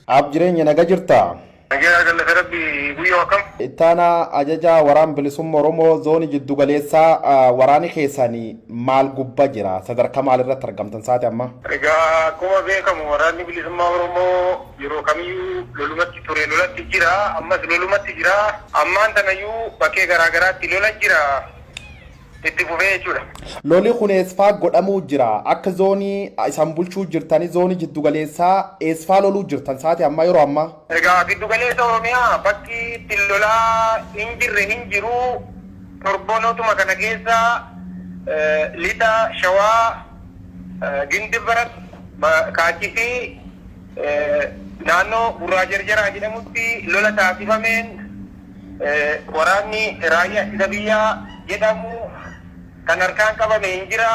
Aab jireenya naga jirta? Nagaa galata rabbi guyyoo akkam? Ittaanaa ajajaa waraan bilisumma Oromoo zoonii jiddu galeessaa waraani keessani maal gubba jira? Sadarkaa maal irratti argamtan saati amma? Egaa akkuma beekamu waraanni bilisummaa Oromoo yeroo kamiyyuu lolumatti ture lolatti jira ammas lolumatti jira ammaan tanayyuu bakkee garaa garaatti lola jira. itti fufee jechuudha. Loli kun eessfaa godhamuu jira? Akka zoonii isan bulchuu jirtani zoonii jiddu galeessaa eessfaa loluu jirtan saati ammaa yeroo ammaa? Egaa giddu galeessa Oromiyaa bakki itti lolaa hin jirre hin jiru. Torbonotuma kana keessa lixa shawaa Gindibrat, Kaachisii, naannoo Gurraa Jarjaraa jedhamutti lola taasifameen, Waraanni Raayyaa Ittisa Biyyaa jedhamu kan harkaan qabame hin jira.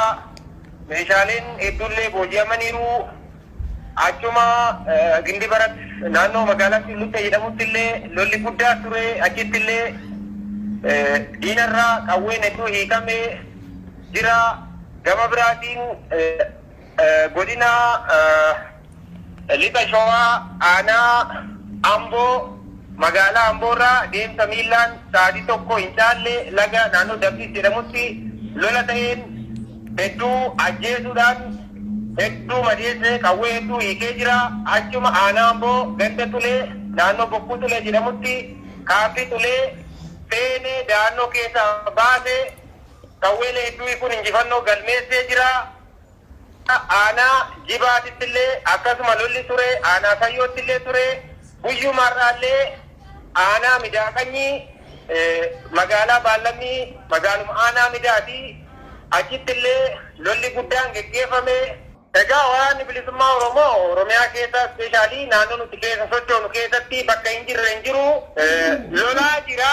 Meeshaaleen hedduullee booji'amaniiru. Achuma Gindibarat naannoo magaalaa Sululta jedhamutti illee lolli guddaa ture. Achitti illee diinarraa qawween hedduu hiikame jira. Gama biraatiin godina. Lixa Shawaa aanaa Amboo magaalaa Amboorraa deemsa miillaan sa'aatii tokko hin caalle laga naannoo Dabdis jedhamutti lola ta'een hedduu ajjeesuudhaan hedduu madeesse qawwee hedduu hiikee jira. Achuma aanaa Amboo ganda Xulee naannoo Bokkuu Xulee jedhamutti kaampii Xulee seenee da'annoo keessaa baase qawweelee hedduu hiikuun injifannoo galmeessee jira. Aanaa Jibaatittillee akkasuma lolli ture, Aanaa Sayyoottillee ture. Guyyuma har'aallee Aanaa Midaaqanyii magaalaa Baallammii magaaluma Aanaa Midaati. Achittillee lolli guddaan geggeeffame. Egaa Waraanni Bilisummaa Oromoo Oromiyaa keessa specially naannoo nuti keessa sochoonu keessatti bakka hin jirre hin jiru. Lolaa jira.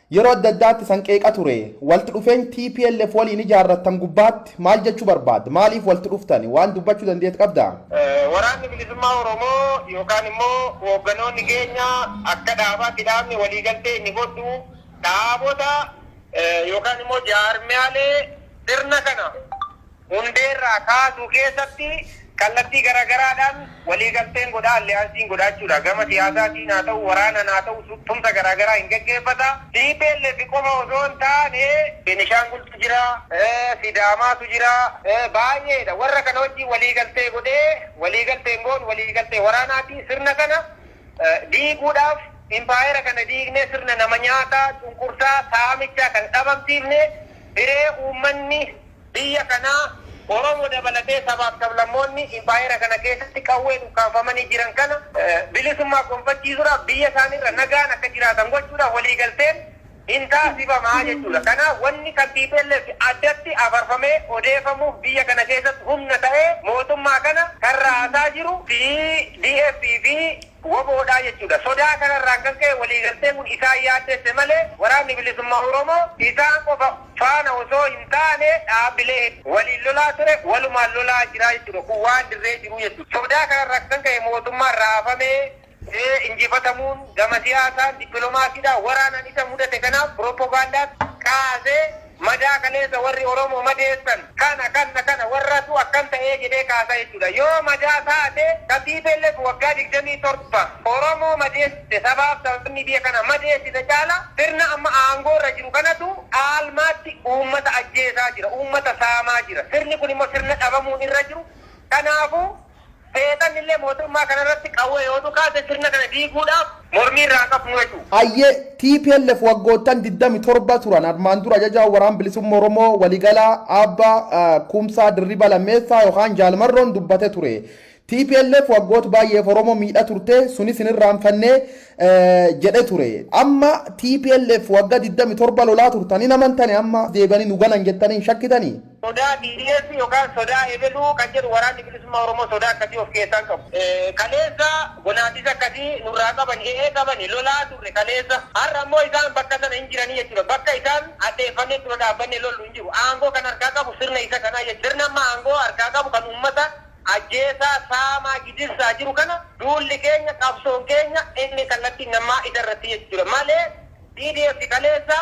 Yeroo adda addaatti isan qeeqa ture. Walti dhufeeny tplf waliin ijaarrattan gubbaatti maal jechuu barbaadda? Maaliif walti dhuftani? Waan dubbachuu dandeet qabda? Waraanni Bilisummaa Oromoo yookaan immoo hoogganoonni keenya akka dhaabaatti dhaabni waliigaltee inni godhu dhaabota yookaan immoo jaarmiyaalee sirna kana, hundeerraa kaasuu keessatti kallattii garaagaraadhaan waliigalteen godha, alliyaansiin godha jechuudha. Gama siyaasaatiin haa ta'u, waraanaan haa ta'u tumsa garaagaraa hin geggeeffata. Tplf qofa osoo hin taane Benishaangultu jira, Sidaamaatu jira, baay'eedha. Warra kana wajjin waliigaltee godhee waliigalteen goonu waliigaltee waraanaati. Sirna kana diiguudhaaf impaayera kana diignee sirna nama nyaataa, cunqursaa, saamichaa kana dhabamsiifne hiree uummanni. biyya kanaa, Oromo dabalatee sabaaf sablammoonni impaayera kana keessatti qawween ukkaamfamanii jiran kana bilisummaa gonfachiisuudhaaf biyya isaaniirra nagaan akka jiraatan gochuudhaaf waliigalteen hin taasifama jechuudha. Kanaaf wanni kan tplf addatti afarfamee odeefamuuf biyya kana keessatti humna ta'ee mootummaa kana kan raasaa jiru tdf fi wbo dha jechuudha. Sodaa kanarraan kan ka'e waliigalteen kun isaan yaaddesse malee Waraanni Bilisummaa Oromoo isaan qofa faana osoo hin taane dhaabbilee hedduu waliin lolaa ture, walumaan lolaa jira jechuudha. Kun waan dirree jiruu jechuudha. Sodaa kanarraa kan ka'e mootummaan raafamee injifatamuun gama siyaasaan, dippilomaasiidhaan, waraanaan isa mudate kanaaf pirooppogaandaan kaasee Madaa kaleessa warri Oromoo madeessan kana kanna kana warratu akkan ta'ee jedhee kaasaa jechuudha. Yoo madaa taate ka tplf waggaa 27 Oromoo madeessite sabaaf sablammii biyya kana madeessite caala sirna amma aangoo irra jiru kanatu caalmaatti uummata ajjeesaa jira, uummata saamaa jira. Sirni kun immoo sirna dhabamuun irra jiru. Kanaafuu. Seexannillee mootummaa kana irratti qawwee yoo dhukaase sirna kana diiguudhaaf mormii irraa hin qabnu jechu. Hayyee, tplf waggoottan 27 turan armaan dura Ajajaa Waraana Bilisummaa Oromoo Waliigalaa Aabba Kumsaa Dirribaa Lammeessaa yookaan Jaal Marroon dubbate ture. Tplf waggoota baay'eef Oromoo miidha turte, sunis hin irraanfanne jedhe ture. Amma tplf wagga 27 lolaa turtan hin amantani amma as deebi'anii nu ganan jettanii hin shakkitanii? Sodaa BDF yokaan sodaa ebeluu kan jedhu Waraanni Bilisummaa Oromoo sodaa akkasii of keessaa hin qabu. Kaleessa gonaatis akkasii nurraa qabani, e'ee qabani, lolaa turre kaleessa. Har'a immoo isaan bakka sana hin jiranii jechuudha. Bakka isaan addeeffannee dura dhaabbannee lollu hin jiru. Aangoo kan harkaa qabu sirna isa kanaa jechuudha. Sirna amma aangoo harkaa qabu kan uummata ajjeesaa, saamaa, gidirsaa jiru kana duulli keenya, qabsoon keenya inni kallattiin ammaa isa irratti jechuudha. Malee BDF kaleessa.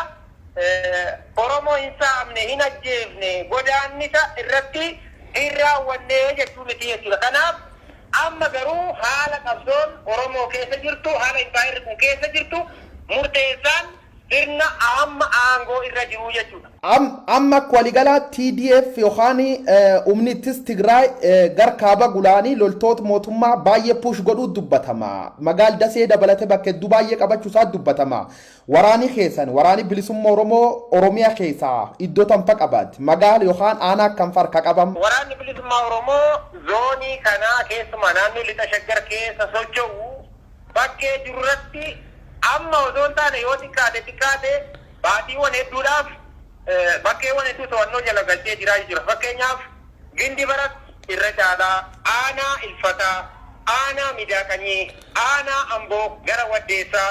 Oromoo hin saamne, hin ajjeefne, godaannisa irratti hin raawwanne jechuu miti jechuudha. Kanaaf amma garuu haala qabsoon Oromoo keessa jirtu, haala impaayerri kun keessa jirtu murteessaan sirna amma aangoo irra jiru jechuudha. Amma akka waligalaatti TDF yookaan humni ittis Tigraay gar kaaba Gulaanii loltoota mootummaa baay'ee push godhuu dubbatama. Magaal Dasee dabalate bakka hedduu baay'ee qabachuu isaa dubbatama. Waraani keessan, Waraani Bilisumma Oromoo, Oromia keessa iddo tam fa qabat? Magaala yokhaan aanaa akkam fa harka qaba? Waraanni Bilisummaa Oromoo zoonii kana keessumaa naannoo Lixa Shaggar keessa socho'u bakkee jiru irratti amma osoo hin taane yoo xiqqaate xiqqaate baatiiwwan hedduudhaaf bakkeewwan hedduu to'annoo jala galchee jira jechuudha. Fakkeenyaaf Gindibarat irra caalaa, Aanaa Ilfataa, Aanaa Midaaqanyii, Aanaa Amboo gara Waddeessaa,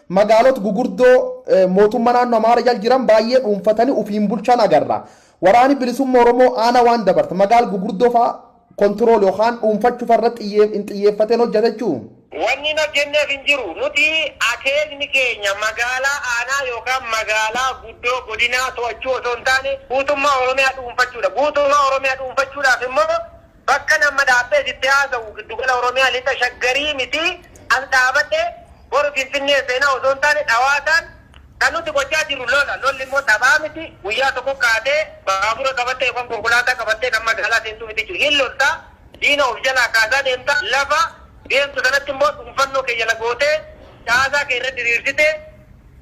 Magaalot gugurdoo mootumma naanno Amaara jal jiran baay'ee dhuunfatani ufiin bulchan agarra. Waraani Bilisumma Oromoo aana waan dabart magaal gugurdoo fa'a control yokaan dhuunfachu fa irrat xiyyeef hin xiyyeefaten hojjata jechuu? Wanni hin hojjennef hin jiru. Nuti akeekni keenya magaalaa aanaa yokaan magaalaa guddoo godinaa to'achuu osoo hin taane guutummaa Oromiyaa dhuunfachuudha. Guutummaa Oromiyaa dhuunfachuudhaaf immoo Bakkan amma dhaabbee sitti haasa'u Giddugala Oromiyaa Lixa Shaggarii miti. As dhaabadhee boru Finfinnee seena osoo hin taane dhawaataan kan nuti gochaa jirru lola. Lolli immoo taphaa miti. Guyyaa tokko kaatee baabura qabattee yookaan konkolaataa qabattee kan magaalaa seentuu miti jechuudha. Hin lolta, diina of jalaa kaasaa deemta, lafa deemtu sanatti immoo dhuunfannoo kee jala gootee caasaa kee irra diriirsitee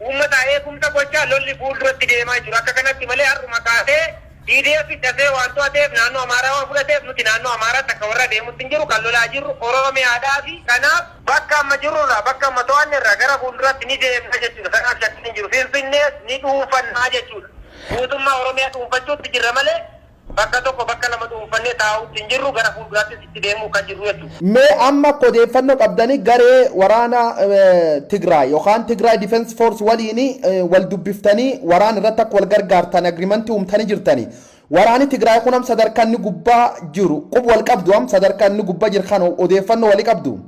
Uummataa eegumsa gochaa lolli fuulduratti deemaa jiru akka kanatti malee har'uma kaasee TDF dafee waan to'ateef naannoo Amaaraa waan fudhateef nuti naannoo Amaaraatti akka warra deemutti hin jiru kan lolaa jirru Oromiyaadhaafi kanaaf bakka amma jirrurraa bakka amma to'annerraa gara fuulduratti ni deemna jechuudha kanaaf shakkiin hin jiru Finfinnees ni dhuunfanna jechuudha guutummaa Oromiyaa dhuunfachuutti jirra malee Bakka tokko bakka lama dhuunfannee taa'uutti hin jirru, gara fuulduraattis itti deemuuf kan jirru jechuudha. Mee amma akka odeeffannoo qabdani garee waraana Tigraay yookaan Tigray Defense Force waliin wal dubbiftanii waraana irratti akka wal gargaartan agreement uumtanii jirtani. Waraani Tigraay kun am sadarkaa inni gubbaa jiru qub wal qabdu am sadarkaa inni gubba jir kan odeeffannoo wali qabdu?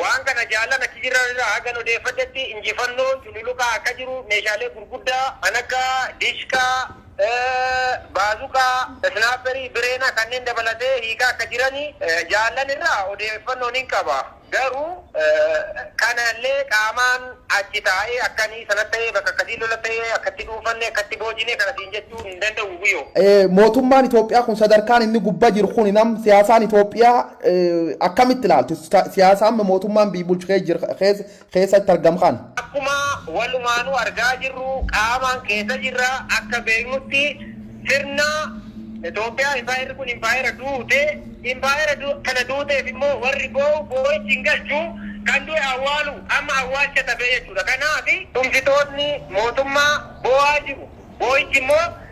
Waan kana Jaallan achi jiran irraa hagan odeeffadhetti injifannoon cululuqaa akka jiru meeshaalee gurguddaa kan akka Dishqaa, Baazuqaa, Snaapperii, Bireena kanneen dabalatee hiikaa akka jiran Jaallan irraa odeeffannoo nin qaba. Garuu kana illee qaamaan achi taa'ee akkani sana ta'ee bakka akkasii lola ta'ee akka itti dhuunfanne akka itti boojine kana siin jechuu hin danda'u Guyo. Mootummaan Itoophiyaa kun sadarkaan inni gubba jiru kun nam siyaasaan Itoophiyaa akkamitti ilaaltu siyaasa amma mootummaan biyyi bulchu keessatti argamu kana? Akkuma walumaanuu argaa jirru qaamaan keessa jirra akka beeknutti sirna Itoophiyaa impaayerri kun impaayera duute impaayera kana duuteef immoo warri boo'u boo'ichi hin galchu kan du'e awwaalu amma awwaalcha dhabee jechuudha. Kanaaf tumsitoonni mootummaa boo'aa jiru. Boo'ichi immoo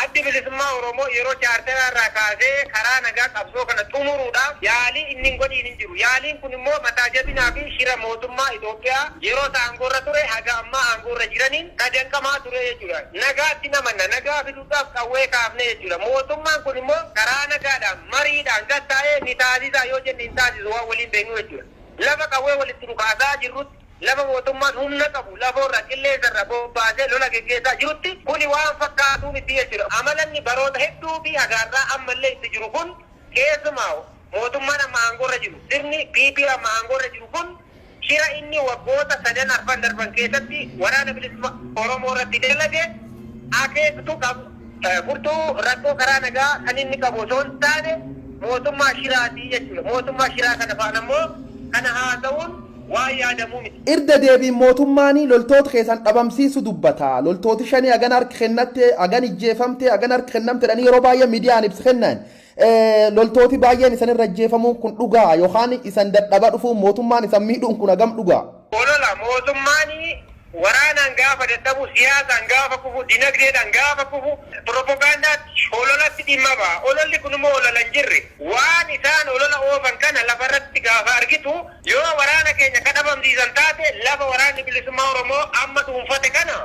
Addi Bilisummaa Oromoo yeroo Chaarteraa irraa kaasee karaa nagaa qabsoo kana xumuruudhaaf yaalii inni hin godhiin hin jiru. Yaaliin kun immoo mataa jabinaa fi shira mootummaa Itoophiyaa yeroo isa aangoo irra ture haga ammaa aangoo irra jiraniin ka danqamaa ture jechuu dha. Nagaatti hin amanna, nagaa fiduudhaaf qawwee kaafne jechuu dha. Mootummaan kun immoo karaa nagaadhaan, mariidhaan gad taa'ee ni taasisa yoo jenne hin taasisu waan waliin beeknu jechuu dha. Lafa qawwee walitti dhukaasaa jirrutti Lafa mootummaan humna qabu lafoorra, qilleensarra bobbaasee lola geggeessaa jirutti kuni waan fakkaatuu miti jechuudha. Amala inni baroota hedduufi hagaarraa ammallee itti jiru kun keessumaa'u mootummaan amma aangoorra jiru, sirni PP amma aangoorra jiru kun shira inni waggoota sadan arfan darban keessatti Waraana Bilisummaa Oromoorratti dalage akeektu qabu. Furtuu rakkoo karaa nagaa kan inni qabu osoo hin taane mootummaa shiraati jechuudha. Mootummaa shiraa kana faana immoo kana haasa'uun waan yaadamuu miti. Irda deebiin mootummaani loltoota keessan dhabamsiisu dubbata. Loltooti shanii hagan harki kennatte, hagan ijjeefamte, hagan harki kennamte jedhanii yeroo baay'ee midiyaan ibsa kennan. Loltooti baay'een isan irra ajjeefamuun kun dhugaa? Yookaan isan dadhaba dhufuun mootummaan isan miidhuun kun hagam dhugaa? Olola, Mootummaan waraanaan gaafa dadhabu, siyaasaan gaafa kufu, dinagdeedhaan gaafa kufu piropogaandaatti, hololatti dhimma baha. Ololli kun immoo olola hin jirre. Waan isaan olola oofan kana lafa irratti gaafa argitu, yoo waraana keenya ka dhabamsiisan taate lafa Waraanni Bilisummaa Oromoo amma dhuunfate kana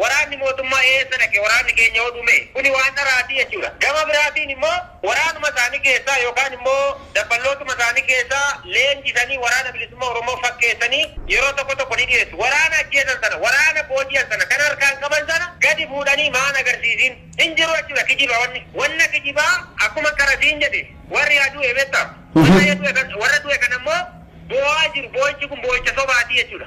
waraanni mootummaa eessa dhaqe waraanni keenya oduu mee? Kuni waan dharaati jechuudha. Gama biraatiin immoo waraanuma isaanii keessaa yookaan immoo dabballootuma isaanii keessaa leenjisanii Waraana Bilisummaa Oromoo fakkeessanii yeroo tokko tokko ni dhiyeessu. Waraana ajjeesan sana, waraana booji'an sana, kan harkaan qaban sana gadi fuudhanii maan agarsiisiin? Hin jiru jechuudha kijiba wanni. Wanna kijibaa akkuman qara siin jedhe warri haa du'e beektaa? Warra du'e kana immoo boo'aa jiru. Boo'ichi kun boo'icha sobaati jechuudha.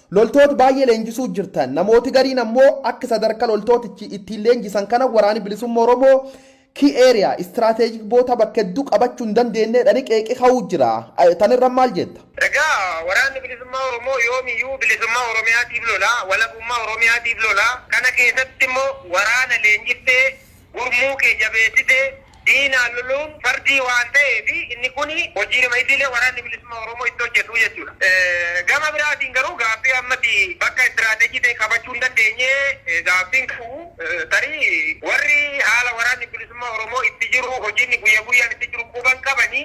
Loltoot baay'ee leenjisuu jirtan. Namooti gariin ammoo akk sadarka loltootichi ittiin leenjisan kana Waraani Bilisumma Oromoo key area, strategic boota bakka heddu qabachu hin dandeenne jedhani qeeqi ka'uu jira. Tan irra maal jetta? Egaa Waraanni Bilisummaa Oromoo yoomiyyuu bilisummaa Oromiyaatiif lola, walabummaa Oromiyaatiif lola. Kana keessatti immoo waraana leenjiftee, gurmuu kee jabeessitee, diinaan loluun fardii waan ta'eef inni kun hojiidhuma idilee Waraanni Bilisummaa Oromoo itti hojjetu jechuudha. Gama biraatiin garuu gaaffii ammati bakka istiraateejii ta'e qabachuu hin dandeenye gaaffiin ka'u tarii warri haala Waraanni Bilisummaa Oromoo itti jiru, hojii inni guyya guyyaan itti jiru quba hin qabani.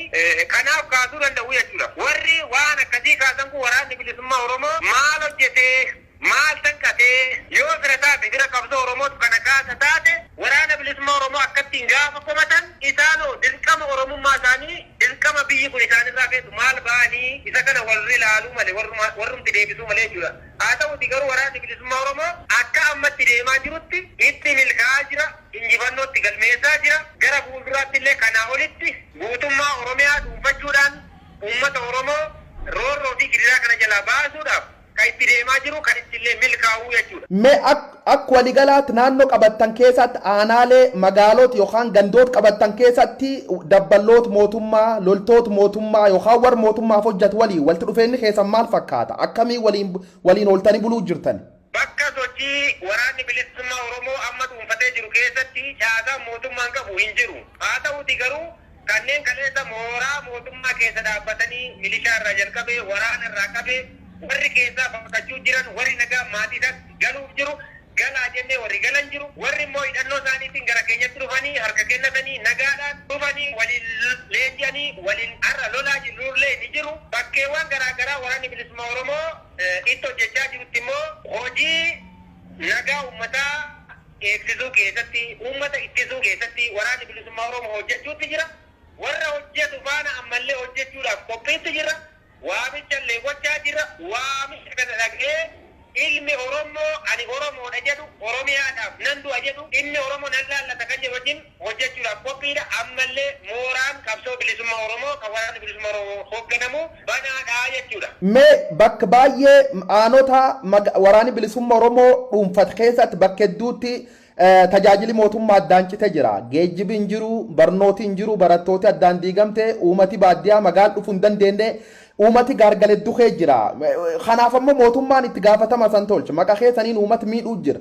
Kanaaf kaasuu danda'u jechuudha. Warri waan akkasii kaasan kun Waraanni Bilisummaa Oromoo maal hojjetee? Maal tanqatee? Yoo fira taate fira qabsoo Oromootu kana kaasa taate Waraana Bilisummaa Oromoo akkattiin gaafa komatan isaanoo dirqama Oromummaa isaanii dirqama biyyi kun isaanirraa feetu maal ba'anii isa kana warri laaluu male warrumaa warrumti deebisuu malee jechuudha. Haa ta'uutii garuu Waraanni Bilisummaa Oromoo akka ammatti deemaa jirutti itti milkaa'aa jira, injifannoo itti galmeessaa jira, gara fuulduraatti illee kanaa olitti guutummaa Oromiyaa dhuunfachuudhaan uummata Oromoo roorroo fi gidiraa kana jalaa baasuudhaaf, Kan itti deemaa jiru kan ittillee milkaa'uu jechuudha. Me ak ak waligalaat naanno qabattan keesaatti aanaalee, magaaloot yokaan gandoot qabattan keesatti dabballoot mootummaa, loltoot mootummaa yokaan warr mootummaaf hojjatu waliin waltti dhufeenni keesan maal fakkaata? Akkamiin waliin waliin ooltanii buluu jirtani? Bakka sochii Waraanni Bilissummaa Oromoo amma dhuunfatee jiru keessatti caasaan mootummaan qabu hin jiru. Haa ta'uutii garuu, Kanneen kaleessa mooraa mootummaa keessa dhaabbatanii milishaa irraa jalqabee waraana irraa qabee warri keessaa baqachuu jiran, warri nagaan maatii isaatti galuuf jiru, galaa jennee warri galan jiru, warri immoo hidhannoo isaaniitiin gara keenyatti dhufanii harka kennatanii nagaadhaan dhufanii waliin leenji'anii waliin har'a lolaa jirrullee ni jiru. Bakkeewwan garaa garaa Waraanni Bilisummaa Oromoo itti hojjechaa jirutti immoo hojii nagaa uummataa, eegsisuu keessatti, uummata ittisuu keessatti Waraanni Bilisummaa Oromoo hojjechuutti jira. Warra hojjetu faana ammallee hojjechuudhaaf qophiitti jirra. Waamichallee gochaa jirra. Waamicha kana dhaga'ee ilmi Orommoo ani Oromoodha jedhu, Oromiyaadhaaf nan du'a jedhu, dhimmi Oromoo nan laallata kan jedhu wajjin, hojjechuudhaaf qophiidha. Ammallee mooraan qabsoo bilisummaa Oromoo kan Waraanni Bilisummaa Oromoo hoogganamu banaadha jechuudha. Mee bakk baay'ee aanota Waraanni Bilisumma Oromoo dhuunfat keessatti bakka hedduutti tajaajili mootummaa addaan cite jira. Geejjibi hin jiru, barnooti hin jiru, barattooti addaan diigamte, uumati baaddiyaa magaal dhufu hin dandeenne, uumati gaargal heddu kee jira. Kanaaf ammoo mootummaan itti gaafatama san tolche. Maqa keessaniin uumat miidhuu jira.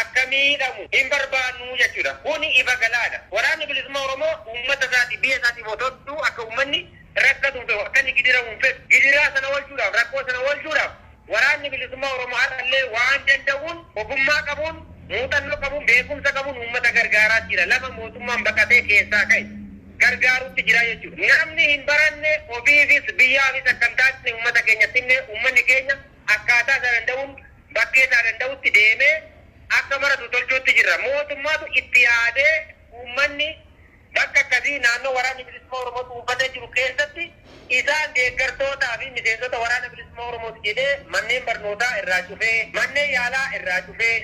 akka miidhamu hin barbaannu jechuu dha. Kuni ifa galaa dha. Waraanni Bilisummaa Oromoo uummata isaatiif, biyya isaatiif otoo jedhuu akka uummanni rakkatuuf ta'u, akka inni gidiramu hin fedhu. Gidiraa sana oolchuu dhaaf, rakkoo sana oolchuu dhaaf Waraanni Bilisummaa Oromoo har'a illee waan danda'uun, ogummaa qabuun, muuxannoo qabuun, beekumsa qabuun uummata gargaaraa jira. Lafa mootummaan baqatee keessaa ka'e gargaaruutti jira jechuu dha. Namni hin baranne ofiifis biyyaafis akka hin taane uummata keenyatti himnee uummanni keenya. akkaataa isaa danda'uun bakkee isaa danda'utti deemee akka maratu tolchuutti jirra. Mootummaatu itti yaadee uummanni bakka akkasii naannoo Waraanni Bilisummaa Oromoo dhuunfatee jiru keessatti isaan deeggartootaa fi miseensota Waraana Bilisummaa Oromooti jedhee manneen barnootaa irraa cufee, manneen yaalaa irraa cufee,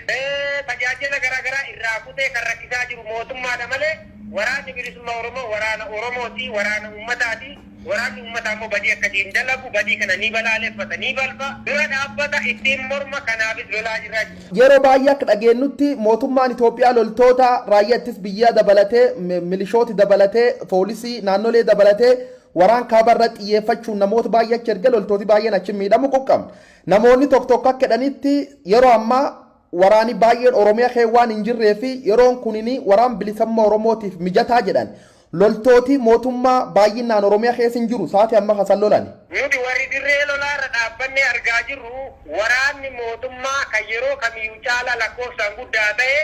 tajaajila garaa garaa irraa kutee kan rakkisaa jiru mootummaadha malee Waraanni Bilisummaa Oromoo waraana Oromooti, waraana uummataati. Waraanni ummataa immoo badii akkasii hin dalagu, badii kana ni balaaleffata, ni balfa, dura dhaabbata, ittiin morma, kanaafis lolaa jirra. Yeroo baay'ee akka dhageennutti mootummaan Itoophiyaa loltoota raayyaa ittis biyyaa dabalatee, milishooti dabalatee, foolisii naannolee dabalatee waraan kaaba irratti xiyyeeffachuun namoota baay'ee achi erge loltooti baay'een achi miidhamu quqqabna. Namoonni tokko tokko akka jedhanitti yeroo ammaa waraani baay'een Oromiya kee waan hin jirree fi yeroon kunini waraan bilisamma Oromootiif mijataa jedhan. Loltooti mootummaa baayyinnaan Oromiya keessa hin jiru saati amma kasan lolani. Nuti warri dirree lolaa irra dhaabbannee argaa jirru waraanni mootummaa kan yeroo kamiyu caalaa lakkoofsaan guddaa ta'e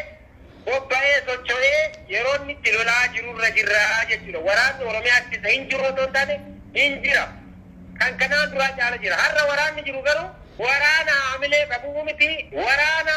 bobba'ee socho'ee yeroo inni itti lolaa jiru irra jirra jechuudha. Waraanni Oromiyaa keessa hin jiru otoo hin taane hin jira. Kan kanaan duraa caala jira. Har'a waraanni jiru garuu waraana haamilee qabu miti. Waraana.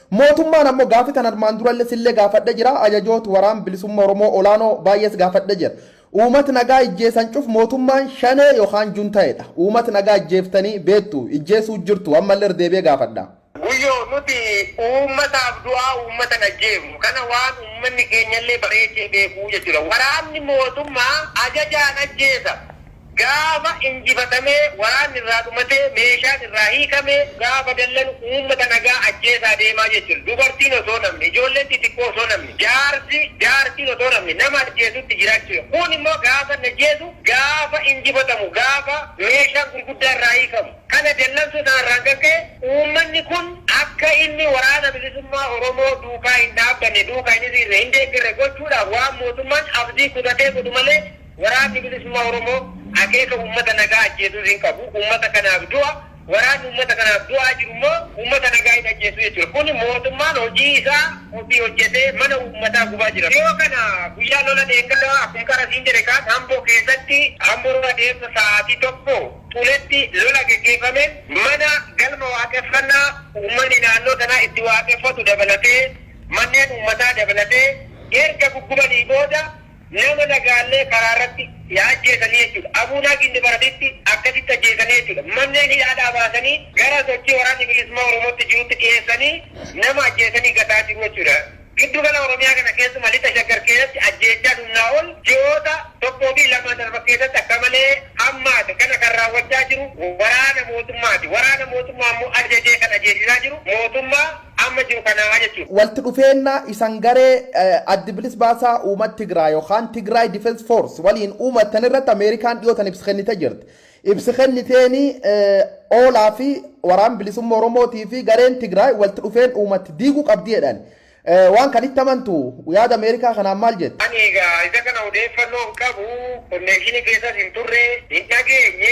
Mootummaan ammo gaaffi tan armaan duralle sille gaafadhe jira, ajajoot waraan bilisumma Oromoo olaano baay'ees gaafadhe jira. Uumat nagaa ijjeesan cuf mootummaan shanee yokaan juntaedha. Uumat nagaa ijjeeftani beettu, ijjeesuu jirtu ammalle irra deebi'e gaafadha. Guyyo nuti uummataaf du'aa uummatan ajjeefnu kana waan uummanni keenyalle bareechee beeku jechudha. Waraanni mootummaa ajajaan ajjeesa. Gaafa injifatamee, waraanni irraa dhumatee, meeshaan irraa hiikamee, gaafa dallanu uummata nagaa ajjeesaa deemaa jechuun dubartiin osoo hin hafne, ijoolleen xixiqqoo osoo hin hafne, jaarsi, jaartiin osoo hin hafne nama ajjeesuutti jira jechuudha. Kun immoo gaafa inni ajjeesu, gaafa injifatamu, gaafa meeshaan gurguddaa irraa hiikamu. Kana dallansuu sana irraan kan ka'e uummanni kun akka inni Waraana Bilisummaa Oromoo duukaa hin dhaabbanne, duuka hin hiriirre, hin deeggarre gochuudhaaf waan mootummaan abdii kutatee godhu malee, Waraanni Bilisummaa Oromoo akeeka uummata nagaa ajjeesuu hin qabu. Uummata kanaaf du'a. Waraanni uummata kanaaf du'aa jiru immoo uummata nagaa hin ajjeesu jechuudha. Kuni mootummaan hojii isaa ofii hojjetee mana uummataa gubaa jira. Dhiyoo kana guyyaa lola dheengaddaa akkuma qara siin jedhe kaan Amboo keessatti Amboruu adeemsa sa'aatii tokko xuletti lola geggeeffameen mana galma waaqeffannaa uummanni naannoo sanaa itti waaqeffatu dabalatee manneen uummataa dabalatee erga guggubanii booda Nama nagaallee karaa irratti yaa ajjeesanii jechuudha. Abuunaa Ginnibaratitti akkasitti ajjeesanii jechuudha. Manneen hidhaadhaa baasanii gara sochii Waraanni Bilisummaa Oromootti jirutti dhiyeessanii nama ajjeesanii gataa jiru jechuudha. Giddu gala Oromiyaa kana keessumaa Lixa Shaggar keessatti ajjeechaan humnaa ol ji'oota tokkoo fi lamaan darban keessatti akka malee hammaate kana kan raawwachaa jiru waraana mootummaati. Waraana mootummaa immoo ajajee kan ajeesisaa jiru mootummaa. amma jiru kanaa jechuun. Waltti dhufeenna isan garee Addi Bilis Baasaa Uumat Tigraay yookaan Tigray Defense Force waliin uumattan irratti Ameerikaan dhiyoo tana ibsi kennite jirti. Ibsi kenniteeni Ola fi Waraan Bilisumma Oromootii fi gareen Tigraay waltti dhufeen uumatti diiguu qabdi jedhan. Waan kan itti amantu? Yaada Ameerikaa kanaan maal jetta? Ani egaa isa kana odeeffannoo hin qabu, konneekshinii keessas hin turre, hin dhageenye,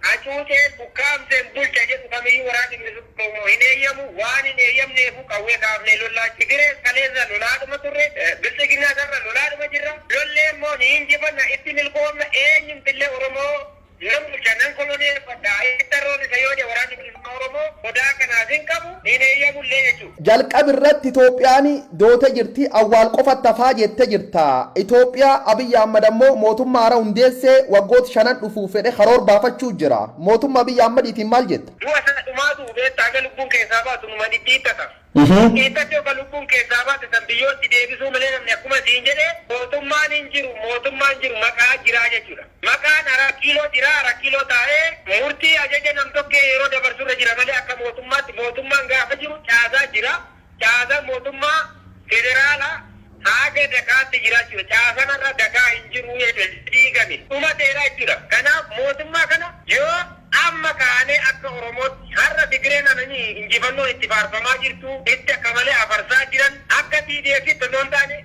Hacuuceen ukkaamseen bulcha jedhu kamiyyuu Waraanni Bilisummaa Oromoo hin eeyyamu. Waan hin eeyyamneefuu qawwee kaafnee lollaa. Tigirees kaleessa lolaadhuma turre. Bilxiginnaas har'a lolaadhuma jirra. Lollee immoo ni injifanna, itti milkoomna, eenyumtillee Oromoo nan bulcha, nan koloneeffadha, itti tarroorrisa yoo jedhe Waraanni Bilisummaa Oromoo sodaa kanaaf hin qabu, hin eeyyamullee jechuudha. Jalqabi irratti Itoophiyaan doote jirti awwaal qofatti hafaa jette jirta. Itoophiyaa Abiy Ahmad ammoo mootummaa haaraa hundeessee waggoota shanan dhufuuf fedhe karoor baafachuu jira. Mootumma Abiy Ahmadiitiin maal jetta? Du'a isaa dhumaa du'u beetta haga lubbuun keessaa baatu numa dhidhiittata. Dhidhiittatti oga lubbuun keessaa baate san biyyootti deebisuu malee namni akkuma siin jedhe mootummaan hin jiru mootummaan jiru maqaa jiraa jechuudha. Maqaan Araakkiiloo jira, Arakkiloo taa'ee murtii ajaja nam-tokkee yeroo dabarsu irra jira malee akka mootummaatti mootummaan gaafa jiru caasaan jira. Caasaan mootummaa federaalaa haaga dakaatti jira jechuudha. Caasaan har'a dakaa hin jiru jechuudha. Diigame. Dhumateera jechuudha. Kanaaf mootummaa kana yoo amma kaanee akka Oromootti har'a Tigireen ananii injifannoon itti faarfamaa jirtu, itti akka malee afarsaa jiran akka TDFtti osoo hin taane,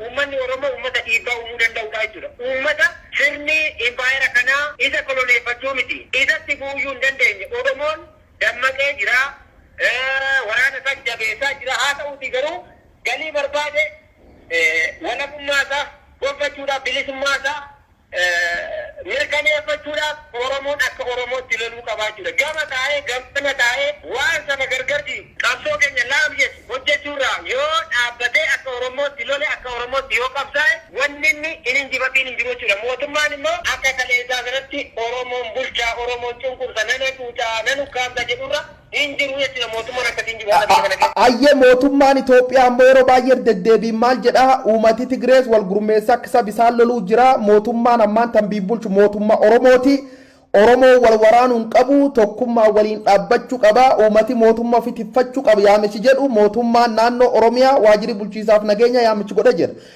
Uummanni Oromoo uummata dhiibbaa uumuu danda'udha jechuudha. Uummata sirni impaayera kanaa isa koloneeffachuu miti isatti bu'uyyuu hin dandeenye. Oromoon dammaqee jira, waraana isaas jabeessaa jira. Haa ta'uutii garuu galii barbaade walabummaa isaa gonfachuudhaaf, bilisummaa isaa mirkaneeffachuudhaaf Oromoon akka Oromootti loluu qaba jechuudha. Gama taa'ee gamana taa'ee waan saba gargar diigu, qabsoo keenya laamshessu hojjechuu irraa yoo dhaabbatee akka Oromootti lole, akka Oromootti yoo qabsaa'e wanni inni hin injifatiin hin jiru jechuudha. Mootummaan immoo akka kaleessaa sanatti Oromoon bulcha, Oromoon cunqursa, nan hacuuca, nan ukkaamsa jedhu irra hin jiru jechuudha mootummaan akkasii hin jiru haala biyya kana keessa. Ayyee mootummaan Itoophiyaa ammoo yeroo baay'ee irra deddeebiin maal jedha uumati Tigrees wal gurmeessaa akka sab isaan loluu jira mootummaan ammaan tan biyya bulchu mootummaa Oromooti Oromoo wal waraanuu hin qabu tokkummaa waliin dhaabbachuu qaba uumati mootummaa ofi tiffachuu qaba yaamichi jedhu mootummaan naannoo Oromiyaa waajjirri bulchiisaaf nageenya yaamichi godha jira.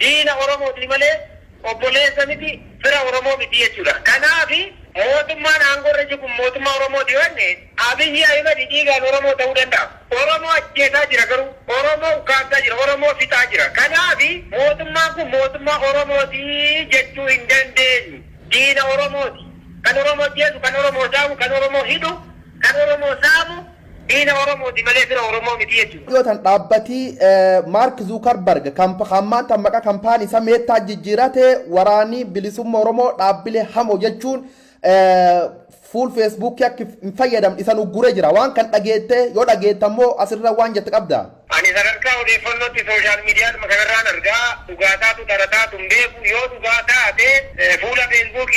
Diina Oromootii malee obboleessa miti, fira Oromoo miti jechuudha. Kanaaf mootummaan aangoo irra jiru kun mootummaa Oromooti yoo jenne, Abiyyi Ahimad dhiigaan Oromoo ta'uu danda'a. Oromoo ajjeesaa jira garuu. Oromoo ukkaamsaa jira. Oromoo fixaa jira. Kanaaf mootummaan kun mootummaa Oromooti jechuu hin dandeenyu. Diina Oromooti. Kan Oromoo ajjeesu, kan Oromoo saamu, kan Oromoo hidhu, kan Oromoo saamu, Diina Oromooti malee fira Oromoo miti jechuun. Dhiyootan dhaabbati Mark Zuckerberg kan ammaan tan maqaa kampaanii isaa Metaatti jijjiirate waraanii bilisumma Oromoo dhaabbilee hamoo jechuun fuul Facebook akka hin fayyadamne isan uggure jira. Waan kan dhageette yoo dhageette ammoo asirra waan jette qabda? Ani sadarkaa odeeffannootti social mediadhuma kanarraan arga. Dhugaa taatu dhara taatu hin beeku. Yoo dhugaa taate fuula facebook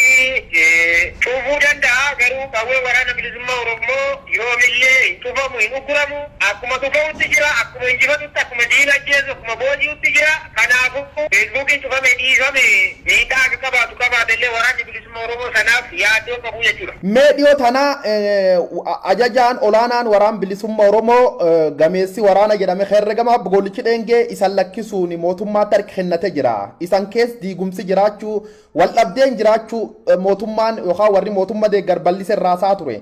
cuufuu danda'a. Garuu qawween Waraana Bilisummaa Orommoo yoomillee hin cufamu, hin ugguramu. Akkuma dhuka'utti jira, akkuma injifatutti, akkuma diina ajjeesu, akkuma booji'utti jira. Kanaafuu, facebook'n cufamee dhiifame miidhaa akka qabaatu qabaatellee Waraanni Bilisummaa. Ummata Oromoo sanaaf yaaddoo qabu jechuu dha. Mee dhiyoo tana Ajajaan Olaanaan Waraan Bilisumma Oromoo gameessi waraana jedhame herregama Aab Goolichi Dheengee isan lakkisuun mootummaatti harka kennate jira. Isan kees diigumsi jiraachuu, waldhabdeen jiraachuu mootummaan yookaan warri mootumma deeggar bal'ise irraa haasaa ture.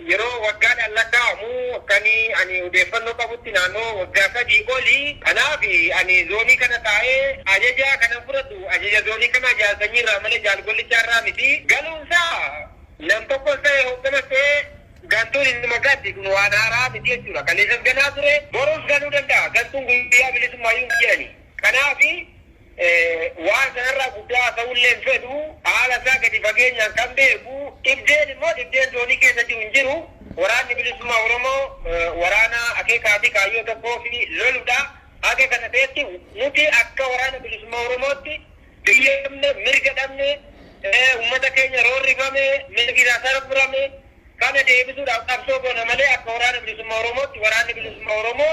Yeroo waggaadhaan lakkaa'amu akkan ani odeeffannoo qabutti naannoo waggaa sadii oli. Kanaaf ani zoonii kana taa'ee ajaja kanan fudhadhu ajaja zoonii kanaa Jaal Sanyii irraa malee Jaal Gollichaa irraa miti. Galuun isaa nam tokkos ta'e hoogganas ta'e gantuun inuma galti kun waan haaraa miti jechuudha. Kaleessas galaa ture borus galuu danda'a. Gantuun guyyaa bilisummaa iyyuu hin jedhani. Kanaaf. Waan sanarraa guddaa haasa'uullee hin fedhu. Haala isaa gadi fageenyaan kan beeku, dhibdeen immoo dhibdeen zoonii keessa jiru hin jiru. Waraanni Bilisummaa Oromoo waraana akeekaa fi kaayyoo tokkoof lolu dha. Haga kana ta'etti nuti akka Waraana Bilisummaa Oromootti biyya dhabne, mirga dhabne, uummata keenya roorrifame, mirgi isaa sarbrame kana deebisuudhaaf qabsoo goona malee akka Waraana Bilisummaa Oromootti Waraanni Bilisummaa Oromoo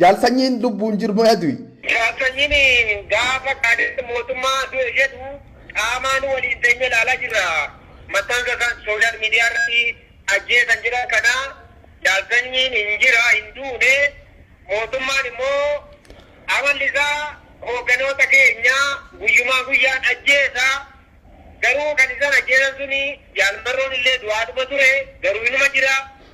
Jaal Sanyiin lubbuun jirmo ya du'i? Jaal Sanyiin gaafa Qaadir mootummaa du'e jedhu qaamaan waliin teenyee ilaalaa jirra. Maxxansa isaan social media irratti ajjeesan jedhan kana Jaal Sanyiin hin jira, hin duune, mootummaan immoo amalli isaa hoogganoota keenya guyyumaa guyyaan ajjeesa. Garuu kan isaan ajjeesan suni Jaal Marroon illee du'aadhuma ture, garuu inuma jira.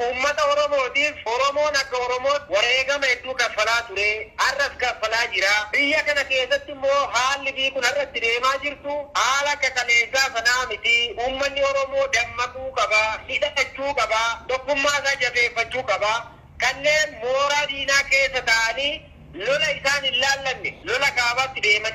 Uummata Oromootiif Oromoon akka Oromootti wareegama hedduu kaffalaa ture, har'as kaffalaa jira. Biyya kana keessatti immoo haalli biyyi kun har'a itti deemaa jirtu haala akka kaleessaa sanaa miti. Uummanni Oromoo dammaquu qaba, hidhachuu qaba, tokkummaa isaa jabeeffachuu qaba. Kanneen mooraa diinaa keessa taa'anii lola isaan hin laallanne lola kaabaatti deeman.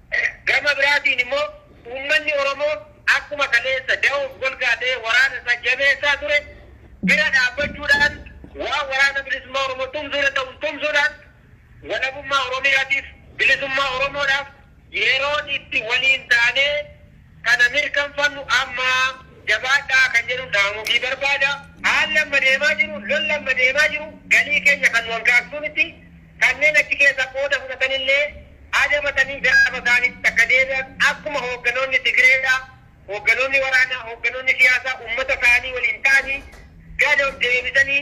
Gama biraatiin immoo uummanni Oromoo akkuma kaleessa da'oof golgaa ta'ee waraana isaa jabeessaa ture bira dhaabbachuudhaan waan Waraana Bilisummaa Oromoo tumsuu danda'uun tumsuudhaan walabummaa Oromiyaatiif, bilisummaa Oromoodhaaf yeroon itti waliin taanee, kana mirkanfannu amma jabaadhaa kan jedhun dhaamufii barbaada. Haalli amma deemaa jiru, lolli amma deemaa jiru galii keenya kan nu hankaaksuu miti. Kanneen achi keessa qooda fudhatan illee adabatanii gaafa isaaniitti akka deebi'an akkuma hoogganoonni Tigreedha, hoogganoonni waraanaa, hoogganoonni siyaasaa ummata isaanii waliin ta'anii gad of deebisanii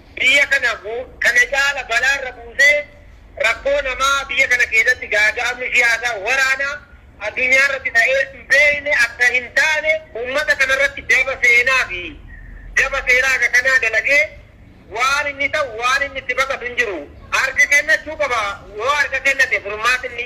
biyya kana kana caala balaa irra buusee rakkoo namaa biyya kana keessatti gaaga'amni siyaasaa, waraanaa addunyaa irratti ta'ee hin beekne akka hin taane uummata kana irratti daba seenaa fi daba seeraa akka kanaa dalagee waan inni ta'u waan inni itti baqatu hin jiru. Harka kennachuu qaba. Yoo harka kennate furmaatni.